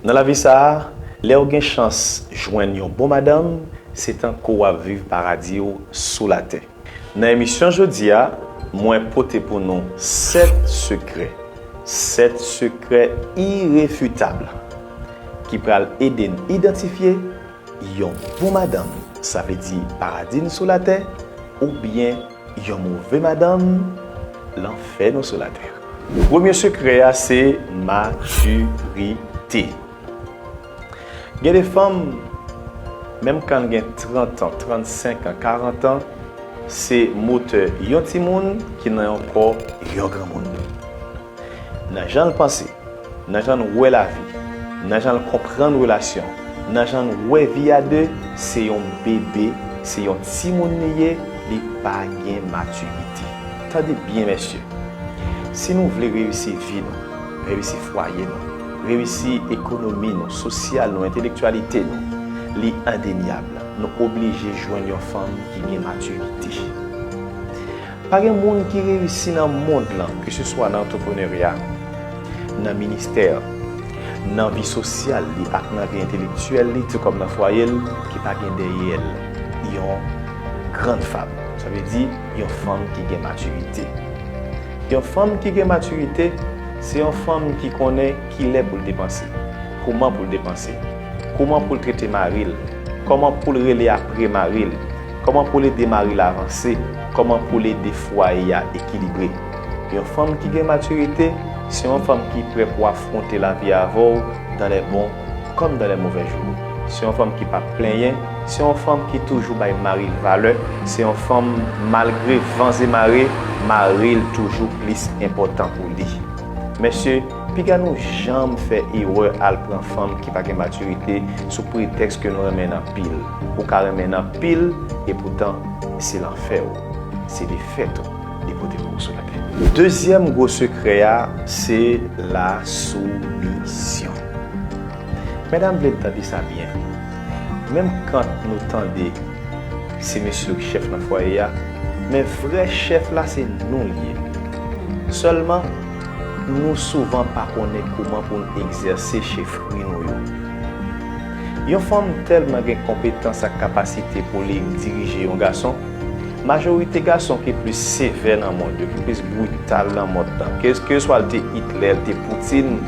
Nan lavi sa a, lè ou gen chans jwenn yon bon madanm, se tankou w ap viv paradi w sou latè. Nan emisyon jodi a, mwen pote pou nou 7 sekrè, 7 sekrè irefitab ki pral ede n idantifye yon bon madanm, sa vle di paradi n sou latè oubyen. Yon move madanm lan fè nou sou latè. Premye sekrè a se maturite. Gen de fanm menm kan gen 30 an, 35 an, 40 an se motè yon timoun ki nan yon kò yon granmoun. Nan jan l panse, nan jan l wè lavi, nan jan l konprann relasyon, nan jan l wè vi a 2, se yon bebe, se yon timoun li ye, li pa gen matirite. Tande byen mesye, si nou vle reyisi vi nou, reyisi fwaye nou, reyisi ekonomi nou, sosyal nou, entelektyalite nou, li endenyab, nou oblije jwenn yon fanm ki gen matirite. Pa gen moun ki reyisi nan mond lan, ke se swa nan antreprenerya, nan ministè, nan vi sosyal li ak nan vi entelektyèl li, ti kòm nan fwaye l, ki pa gen dèyè l yon grann fam. Sa vle di, yon fanm ki gen matirite. Yon fanm ki gen matirite, se yon fanm ki konnen ki lè pou l depanse, kouman pou l depanse, kouman pou l trete mari l, kòman pou l rele apre mari l, Kòman poul ede maril avanse, kòman poul ede fwaye a ekilibre. Yon fanm ki gen matirite se yon fanm ki prè pou afronte lavi avèw dan lè bon kòm dan lè movè jou. Se yon fanm ki pap plenyen, se yon fanm ki toujou bay maril valè, se yon fanm malgre van ze mare, maril toujou plis enpòtan pou li. Mesye! Piga nou janm fè erè al pran fanm ki pa gen matirite sou pretèks ke nou renmen n anpil. Ou ka renmen n anpil e poutan se lanfè ou. Se defèt ou li pote pou ou sou latè. Dezyèm gwo sekrè a se la soumisyon. Medam vle n tande sa byen. Menm kant nou tande se mesye yo ki chèf nan fwaye a, men vrè chèf la se nou li ye. Sèlman. Nou souvan pa konnen kouman pou n egzèse chefri nou yo. Yon fanm tèlman gen konpetans ak kapasite pou li dirije yon gason, majorite gason ki plis sevè nan mond yo, ki plis brital nan mond lan, keyeswa l te Hitler, l te Poutine,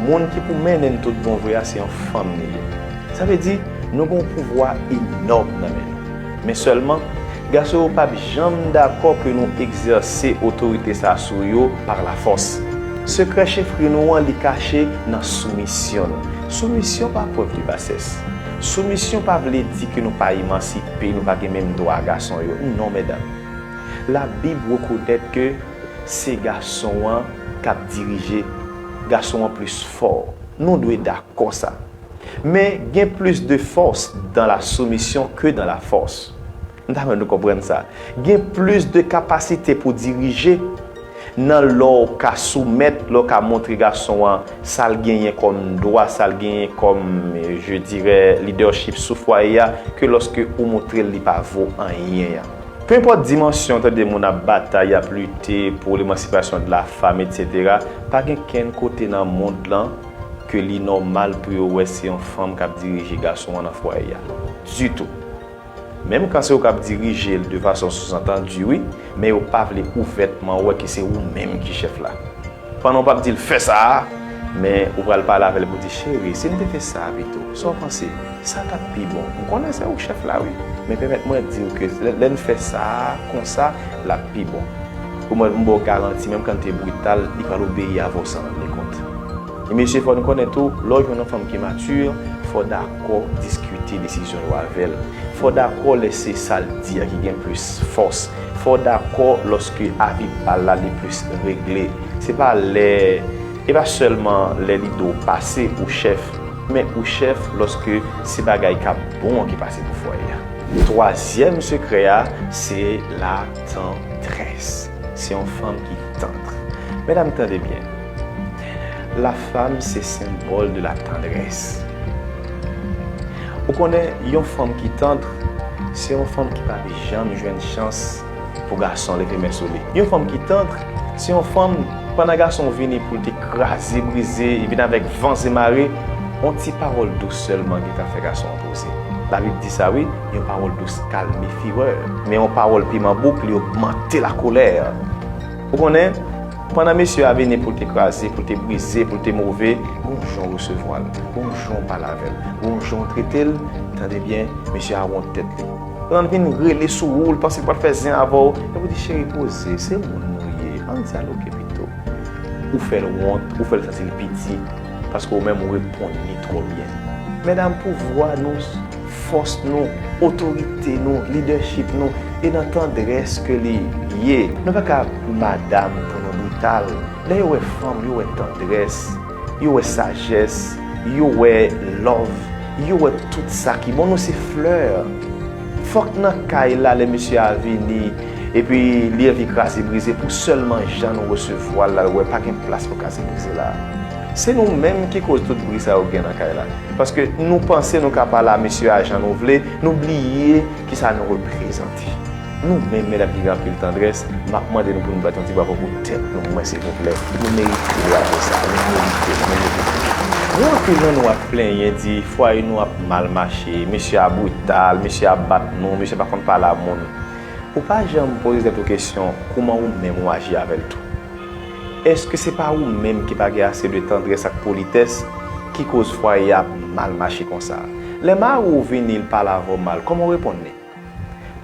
moun ki pou mennen n tout bon vre a se yon fanm li ye. Sa vle di, nou gen yon pouvwa enòm nan men nou. Men sèlman, gason yo pap janm dakò ke nou egzèse otorite sa sou yo par la fòs. Sekrè chefri nou an li kache nan soumisyon nou. Soumisyon pa prèv de basès. Soumisyon pa vle di ke nou pa emansipe, nou pa gen menm dwa gason yo. Non medam. La Bib rekonèt ke se gason an kap dirije. Gason an plis fò. Nou dwe dakò sa. Men gen plis de fòs dan la soumisyon ke dan la fòs. M ta renmen nou konprann sa. Gen plis de kapasite pou dirije nan lè w ka soumèt, lè w ka montre gason an sa l genyen kòm dwa, sa l genyen kòm, je dirè, lidèchip sou fwaye a, ke lòske ou montre l li pa vo anyen an. Pe enpòt dimansyon w tande moun ap batay, y ap lite pou lemansipasyon de la fam, etc, pa gen kenn kote nan mond lan, ke li nòmal pou yo wè se yon fanm k ap dirije gason an nan fwaye a. Ditou. Menm kan se ou k ap dirije l de fason souzantandi wi, men yo pa vle ouvètman wè ke se ou menm ki chèf la. Pandan ou p ap di l fè sa a, men ou pral pale avè l pou di, Cheri, si n te fè sa a pito, sa w panse? Sa t ap pi bon. M konnen se ou k chèf la wi, men pèmèt mwen di w ke lè n fè sa a konsa, l ap pi bon. Pou mwen m baw garanti menm kan te brital li pral obeyi avan w san rann li kont. E mesye fò n konnen tou lè w jwenn yon fanm ki mature fò w dakò diskite desizyon yo avè l, fò w dakò lè se sa l di a ki gen plis fòs, fò w dakò lòske avi pa l la li plis regle. Se pa lè e pa sèlman lè li do w pase ou chèf men ou chèf lòske se bagay kap bon an ki pase pou fwaye a. Twazyèm sekrè a se la. Tantrès, se yon fanm ki tantr. Medam tande byen. La fam se senbòl de la tandrès. Ou konnen yon fanm ki tantr, se yon fanm ki pap janm jwenn chans pou gason leve men sou li. Yon fanm ki tantr, se yon fanm, pandan gason vini pou l te kraze brize, li vin avèk vans e mare, yon ti pawòl dous sèlman ki ka fè gason an poze. Labib di sa wi. Yon pawòl dous kalme firè, men yon pawòl piman bouk li ogmante lakolè. Ou konnen, pandan mesye a vini pou l te kraze, pou l te brize, pou l te move, gon jan w resevwa l, gon jan w pale avè l, gon jan w trete l, tande byen, mesye a wont tèt li. Lan l vin rele sou ou, l panse l pral fè zen avè w, epi w di, cheri poze, se moun nou ye, an n dyaloge pito. Ou fè l wont, ou fè l santi l piti, paske ou menm ou reponn li twò byen. Medam, pouvwa nou. fòs nou, otorite nou, lidèchip nou, e nan tandrès ke li ye. Nou pa ka pou madam pou nou brital. Lè yo wè fanm, yo wè tandrès, yo wè sajès, yo wè love, yo wè tout sa ki bon. Nou se flè. Fòk nan kay la lè mesye a vini, epi li anvi kraze brize pou sèlman jan nou resevwa l la l wè pa gen plas pou kraze brize la. Se nou menm ki koz tout bri sa yo gen nan kay la. Paske nou panse nou ka pale a mesye a jan nou vle, nou bliye ki sa nou reprezante. Nou menm medam ki gen anpil tandrès, m ap mande nou pou nou bat yon ti bravo pou tèt nou mwen silvouplè. Nou merite bravo sa a. Nou merite l. Nou merite l. Gen anpil nan nou ap plenyen di fwaye nou ap mal mache, mesye a brital, mesye a bat nou, mesye a pa konn pale a moun. Ou pa janm poze tèt ou kesyon kouman ou menm ou aji avè l tou? Èske se pa ou menm ki pa gen ase de tandrès ak politès ki koz fwaye a ap mal mache konsa? Lè mari w vini l pale avè w mal, kòman w reponn li?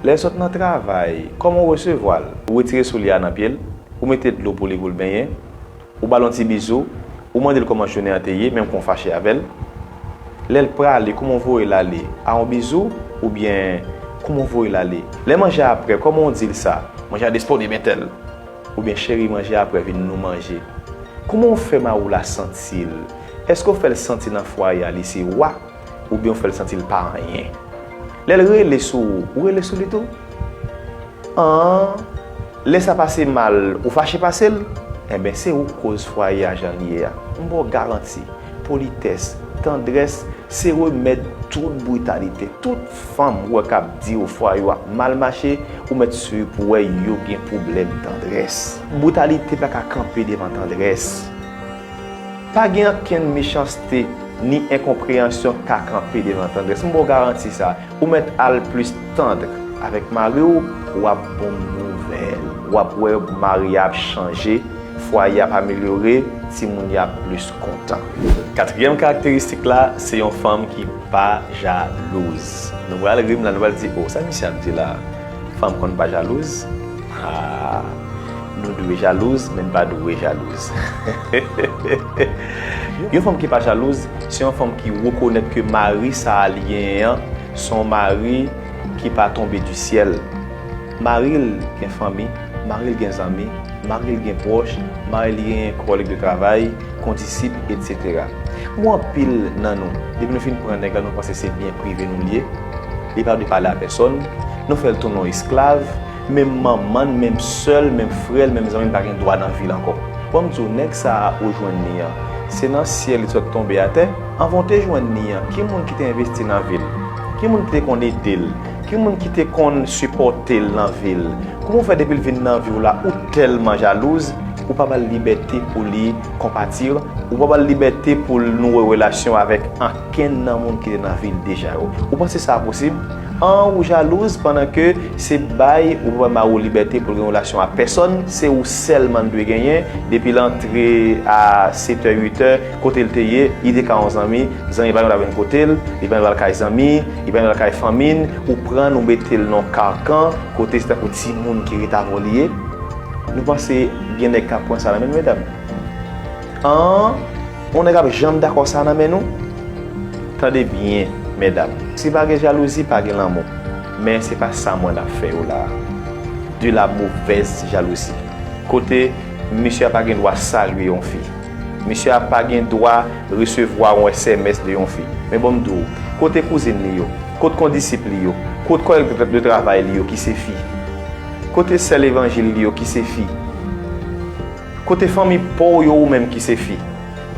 Lè l sot nan travay, kòman w resevwa l? Ou retire soulye a nan pye l, ou mete dlo pou li pou l benyen, ou ba l yon ti bizou, ou mande l kòman jounen an te ye menm kan w fache avè l? Lè l prale, kòman w voye l ale? A yon bizou? Oubyen, kòman w voye l ale? Lè manje a prè, kòman w di l sa? Manje a disponib entèl. Oubyen cheri manje aprè vin nou manje. Kouman ou fè mari w la santi l? Èske w fè l santi nan fwaye a li se wa oubyen ou fè l santi l pa anyen? Lè l rele sou ou, ou rele sou li tou? An, lè sa pase mal, ou fache pase l? Enben, se ou k koz fwaye a jan l ye a. M ba w garanti, politès, tandrès se remèd tout britalite, tout. Fanm ou wè kap diw fwa yo ap mal mache ou mèt sur pou wè yo gen pwoblèm tandrès. Brutalité pa ka kanpe devan tandrès. Pa gen ankenn mechanste ni enkonpreyansyon k ka kanpe devan tandrès. M baw garanti sa. Ou mèt al plus tendre avèk mariw wap bon nouvèl. Wap wè mari a ap chanje, fwaye ap amelyore, timoun yo ap plus kontan. Katriyèm karakteristik la se yon fanm ki. pa jalouz nou pral rim la nou pral di oh sa misye ap di la fanm konn pa jalouz haa nou dwe jalouz men nou pa dwe jalouz hehehehe yon fanm ki pa jalouz se yon fanm ki rekonet ke mari sa li genyen an son mari ki pa tonbe di syèl. Mari l gen fanmi, mari l gen zanmi, mari l gen pwòch, mari l gen kòlèg de travay, kondisip, etsetera. Pou anpil nan nou, depi nou fin pran nèg la nou panse se byen prive nou l ye, li pa dwe pale a pèsòn, nou fè l tounen yon esklav, menm manman n, menm sè l, menm frè l, menm zanmi l pa gen dwa nan vi l ankò. Bon m di w, nèg sa a ou jwenn li an, se nan syèl li sot tonbe atè? Anvan w te jwenn li an, ki moun ki te envesti nan vi l? Ki moun ki te konn ede l? Ki moun ki te konn sipòte l nan vi l? Kouman w fè depi l vin nan vi w la ou tèlman jalouz, ou pa ba l libète pou li konpati, ou pa ba l libète pou l nouri relasyon avèk ankenn nan moun ki te nan vi l deja yo? Ou panse sa posib? An ou jalouz pandan ke se bay ou pa bay mari w libète pou l gen relasyon ak pèsòn, se ou sèlman l dwe genyen depi l antre a setè uitè, Kote l te ye, li te ka yon zanmi, zanmi pa yon ta vin kote l, li pa yon al kay zanmi, li pa yon al kay fanmi n, ou pran l ou mete l nan yon karkan kote se tankou timoun ki ret avè w li ye. Nou panse gen nèg k ap pran sa nan men nou medam? An, yon nèg ap janm dakò sa nan men nou? Tande byen, medam. Si pa gen jalouzi, pa gen lanmou. Men se pa sa mwen ap fè yo la a. De la movèz jalouzi. Kote misye a pa gen dwa salye yon fi. Mesye a pa gen dwa resevwa yon sms de yon fi. Men bon m di w, kote kouzin li yo? Kot kondisip li yo? Kot kòlèg de travay li yo ki se fi? Kote sè levanjil li yo ki se fi? Kote fanmi pa w yo ou menm ki se fi?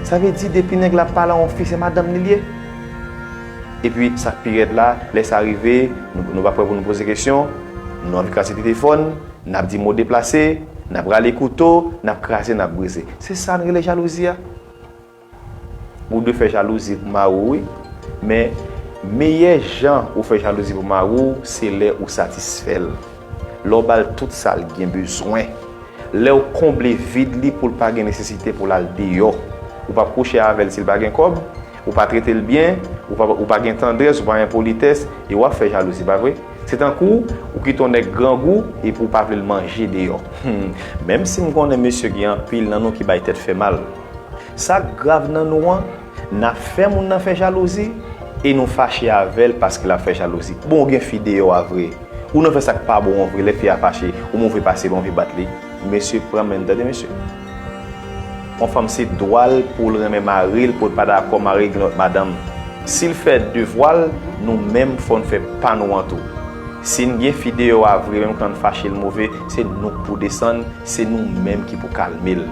Sa vle di depi nèg la ap pale a yon fi se madanm li l ye? Epi sa k pi rèd la, lè sa rive, nou pa prè pou nou poze kesyon, nou anvi kraze telefòn, n ap di mo deplase, n ap rale kouto, n ap kraze, n ap brize. Se sa n rele jalouzi a. Ou dwe fè jalouzi pou mari w wi. Men, meyè jan ou fè jalouzi pou mari w se lè ou satisfè l. Lè w ba l tout sa l gen bezwen. Lè w konble vid li pou l pa gen nesesite pou l al deyò. Ou pap kouche avè l si l pa gen kòb. Ou pa trete l byen, ou pa gen tandrès, ou pa gen politès, e w ap fè jalouzi, pa vre? Se tankou ou kite yon nèg grangou epi ou pa vle l manje deyò. Hum! Menm si m konnen mesye gen anpil nan nou ki bay tèt fè mal. Sa k grav nan nou an, n ap fè moun nan fè jalouzi e nou fache avè l paske l ap fè jalouzi. Bon ou gen fi deyò a vre, ou nan fè sa k pa bon an vre, lè fi a fache, ou move pase l, ou anvi bat li. Mesye pran men n tande mesye. Yon fanm se dwa l pou l renmen mari l, pou l pa dakò mari l gen lòt madanm. Si l fè devwa l, nou menm fò n fè pa nou an tou. Si n gen fi deyò a vre menm kan n fache l move, se nou k pou desann, se nou menm ki pou kalme l.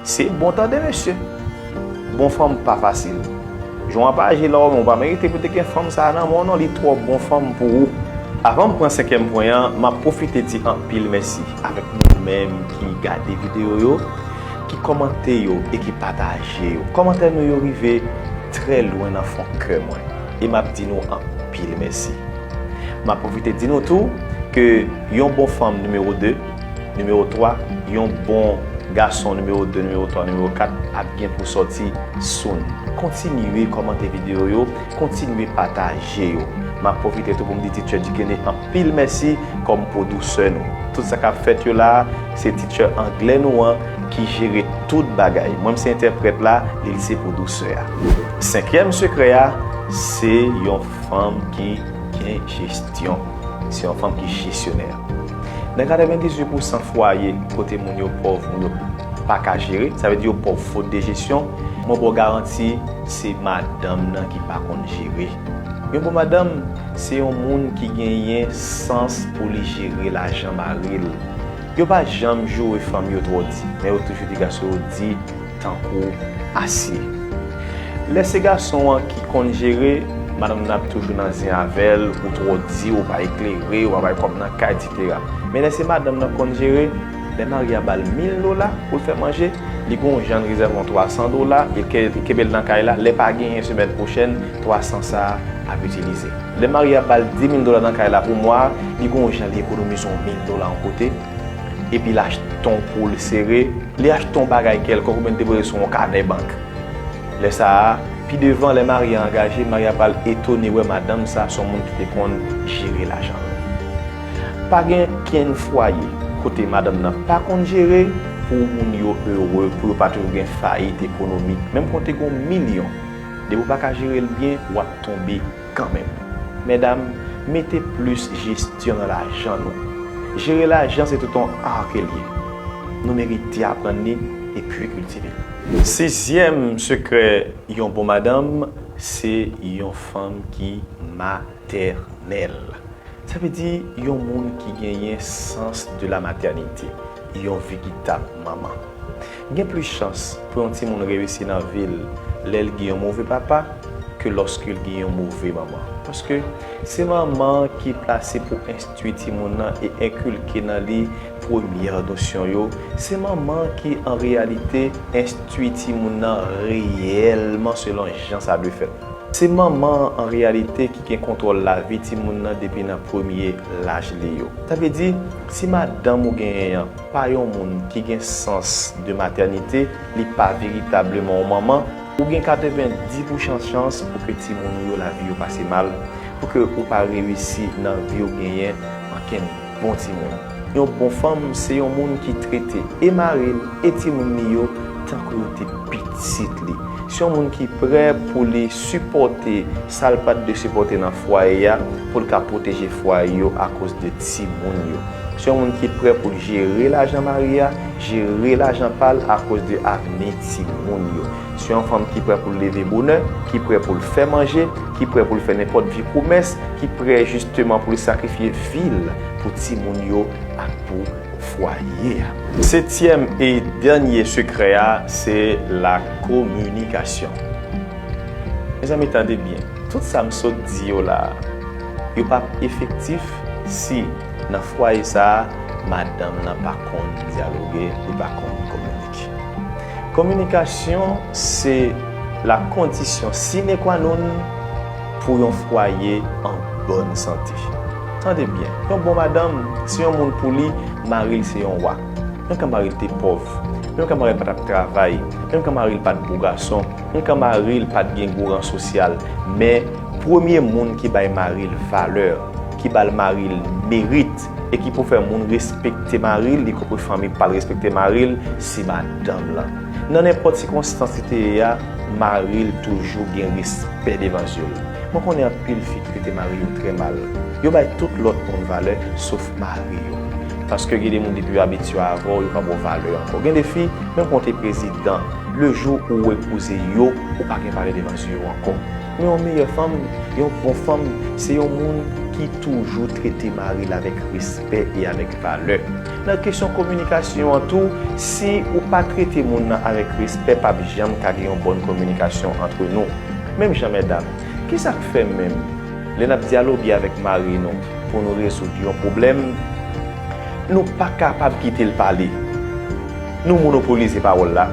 Se bon tande mesye! Bon fanm pa fasil. Jon an pa aji la ou menm ou pa merite pou te gen fanm sa a nan men w non li twò bon fanm pou ou. Avan m pran senkyèm pwen an, m ap pwofite di anpil mèsi. Avèk nou menm ki gade videyo yo, ki kòmante yo e ki pataje yo. Kòmantè nou yo rive trè lwen nan fon kè mwen e m ap di nou anpil mèsi. M ap pwofite di nou tou ke yon bon fanm nimewo 2, nimewo 3, yon bon gason nimewo 2, nimewo 3, nimewo 4 ap gen pou sòti soon. Kontinye kòmante videyo yo, kontinye pataje yo. M ap pwofite tou pou m di Teacher Dikene anpil. Pil mèsi kòm pwodusè nou. Tout sa kap fèt yo la a, se teacher anglè nou an ki jere tout bagay. Mwen m se entèprèt la, li li se pwodusè a. Senkyèm sekrè a, se yon fanm ki gen jesyon. Se yon fanm ki jesyonè. Nan 98 pou san fwaye kote moun yo pòv, moun yo pa ka jere, sa vle di yo pòv fot de jesyon, mwen ba w garanti se madanm nan ki pa konn jere. Yon bon madanm se yon moun ki genyen sans pou li jere lajan mari l. Yo pa janm joure fanm yo twò di, men yo toujou di gason yo di tankou asye. Lè se gason an ki konn jere, madanm nan ap toujou nan zen avè l, ou twò di, ou pa eklere, ou pa bay kòb nan kay, etc. Men lè se madanm nan konn jere, Lè mari a bal 1000 dola poul fè manje, li gon janl rezève yon 300 dola e kebel nan kay la, lè pa genyen semèn pwochèn 300 sa ap itilize. Lè mari a bal 10000 dola nan kay la pou mwa a, li gon jan li ekonomize yon 1000 dola yon kote, epi l achte yon poul sere, li achte yon bagay kèlkonk oubyen li depoze sou yon kanè bank. Lè sa a, pi devan lè mari a angaje, mari a pral etone wè madanm sa son moun ki te konn jere lajan l. Pa gen kenn fwaye kote madanm nan pa konn jere pou moun yo ere, pou yo pa toujou gen fayit ekonomik. Menm konte gen yon milyon, depi w pa ka jere l byen, w ap tonbe kanmenm. Medam, mete plis jesyon nan lajan nou. Jere lajan se tout yon ar ke l ye. Nou merite aprann li epi kiltive l. Sizyèm sekrè yon bon madanm, se yon fanm ki ma. matènèl. Sa vle di yon moun ki genyen sans de la matènite, yon vigitab manman. Gen plis chans pou yon timoun reyisi nan vi l lè l gen yon move papa ke lòske l gen yon move manman. Paske se manman an ki plase pou enstwi timoun nan e enkilke nan li premyè nosyon yo, se manman an ki an reyalite enstwi timoun nan reyèlman selon jan sa dwe fèt. Se manman an an reyalite ki gen kontwòl lavi timoun nan depi nan premye laj li yo. Sa vle di, si madanm ou genyen an pa yon moun ki gen sans de matènite, li pa veritableman yon manman, ou gen 90 pouchan chans pou ke timoun ou yo lavi yo pase mal, pou ke ou pa reyisi nan vi ou genyen ankenn. Bon timoun. Yon bon fanm se yon moun ki trete e mari l e timoun li yo tankou yo te pitit li. Se yon moun ki prè pou li sipòte sa l pat dwe sipòte nan fwaye a pou l ka pwoteje fwaye yo akoz de timoun yo. Se yon moun ki prè pou l jere lajan mari a, jere lajan pa l akoz de avni timoun yo. Se yon fanm ki prè pou l leve bonè, ki prè pou l fè manje, ki prè pou l fè nenpòt vye pwomès, ki prè jisteman pou l sakrifye vi l pou timoun yo ak pou fwaye a. Setyèm e dènye sekrè a se lakominikasyon. Mezanmi tande byen, tout sa m sot di yo la a, yo pap efektif si nan fwaye sa a madanm nan pa konn dyaloge, li pa konn kominike. politik. Kominikasyon se la kondisyon sine qua non pou yon fwaye an bòn sante. Tande byen, yon bon madanm, se yon moun pou li, mari l se yon wa. Menm kan mari l te pòv, menm kan mari l pa t ap travay, menm kan mari l pa t gwo gason, menm kan mari l pa t gen gwo ran sosyal, men premye moun ki bay mari l valè, ki ba l mari l merit, E ki pou fè moun respekte mari l, li konpre fanmi pa l respekte mari l, se madanm lan. Nan nenpòt sikonstans li te ye a, mari l toujou gen respè devan zye l. Mwen konnen anpil fi ki trete mari yo trè mal. Yo bay tout lòt moun valè, sof mari yo. Paske gen de moun depi yo abitye avè w, yo pa ba w valè ankò. Gen de fi, menm kan w te prezidan, lejou ou epouze yo, ou pa gen valè devan zye yo ankò. Men yon meyè fanm, yon bon fanm, se yon moun ki toujou trete mari l avèk respè e avèk valè. Nan kesyon kominikasyon an tou, si ou pa trete moun nan avèk respè pap janm ka gen yon bòn kominikasyon antre nou. Menm jan mèdam, ki sa k fè menm lè n ap dyaloge avèk mari nou pou nou rezoud yon pwoblèm, nou pa kapab kite l pale, nou monopolize pawòl la?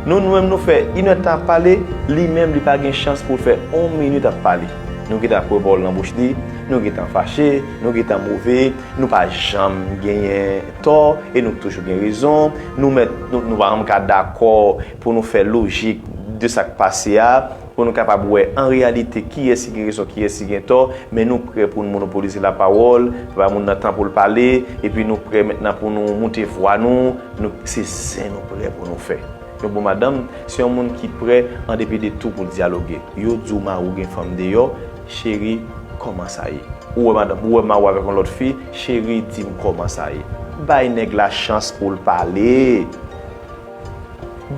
Nou nou menm nou fè inèd tan ap pale, li menm li pa gen chans pou l fè on minit ap pale. Nou gentan ap wè bòl nan bouch li, nou gentan fache, nou gentan move, nou pa janm genyen tò e nou toujou gen rezon, nou mèt nou pa janm ka dakò pou nou fè lojik de sa k pase a. Pou nou kapab wè an reyalite kiyès ki gen rezon, kiyès ki gen tò, men nou prè pou nou monopolize lapawòl, bay moun nan tan pou l pale, epi nou prè mentnan pou nou moute vwa nou, nou, se zen nou prè pou nou fè. Yon bon madanm, se yon moun ki prè an depi de tou pou l dyaloge. Yo di w mari w gen fanm deyò, cheri, kòman sa ye? Ou wè madanm, ou wè mari w avèk yon lòt fi, cheri, di m kòman sa ye? Bay nèg la chans pou l pale!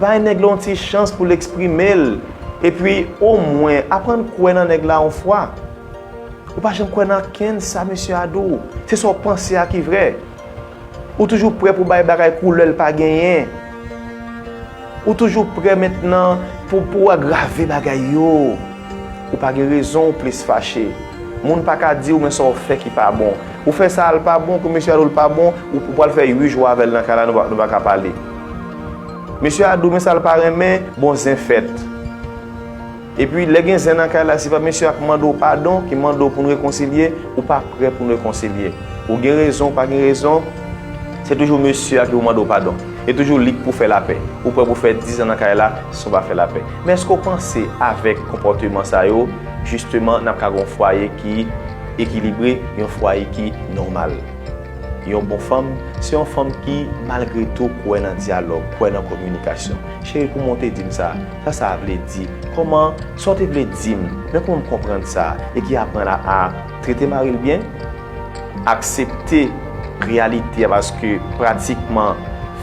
Bay nèg la yon ti chans pou l eksprime l. Epi, omwen, aprann kwè nan nèg la yon fwa. Ou pa janm kwè nan ankenn sa misye a di w. Se sa w panse a ki vrè. Ou toujou prè pou w bay bagay koulè l pa genyen. Ou toujou prè mentnan pou w agrave bagay yo. Ou pa gen rezon ou plis fache. Moun pa ka diw men sa ou fè ki pa bon. Ou fè sa al pa bon pou mesye a diw l pa bon, ou pwal fè 8 jou avèl nan kay la nou pa ka pale. Mesye a diw men sa l pa renmen, bon zen fèt. Epi lè gen zen nan kay la se pa mesye a k mande w padon, ki mande w pou nou rekonsilye, ou pa prè pou nou rekonsilye. Ou gen rezon ou pa gen rezon, se toujou mesye a ki pou mande w padon. E toujou li k pou fè lapè. Ou prè pou fè 10 zan nan kay la san w pa fè lapè. Men èske w panse avèk konpòteman sa yo, jisteman n ap ka gen yon fwaye ki ekilibre, yon fwaye ki nòmal? Yon bon fanm, se yon fanm ki malgre tou kwè nan dyalòg, kwè nan kominikasyon. Cheri kouman w te di m sa? Sa sa vle di? Kòman, sa w te vle di m? Men kouman m konprann sa? E ki aprann a trete mari l byen. Aksepte reyalite a paske pratikman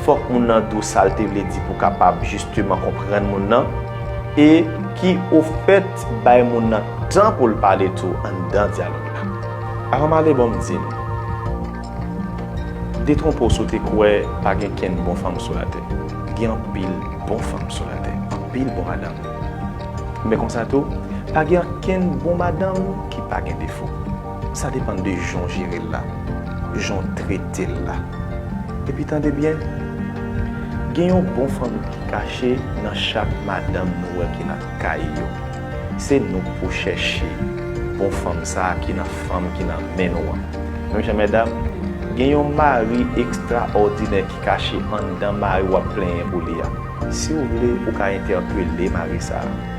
fòk moun nan di w sa l te vle di pou w kapab jisteman konprann moun nan e ki ofèt bay moun nan tan pou l pale tou anndan dyalòg la. Avan m ale bon m di m, detwonpe w si w te kwè pa gen kenn bon fanm sou latè. Gen anpil bon fanm sou latè, anpil bon madanm. Men konsa tou, pa gen ankenn bon madanm ki pa gen defo. Sa depan de jan w jere l la, jan w trete l la. Epi tande byen, gen yon bon fanmi ki kache nan chak madanm nou wè ki nan kay yo. Se nou k pou chèche bon fanm sa a ki nan fanm ki nan men nou an. Menm jan medam, gen yon mari ekstraòdinè ki kache anndan mari w ap plenyen pou li a. Si w vle, ou ka entèpele mari sa a.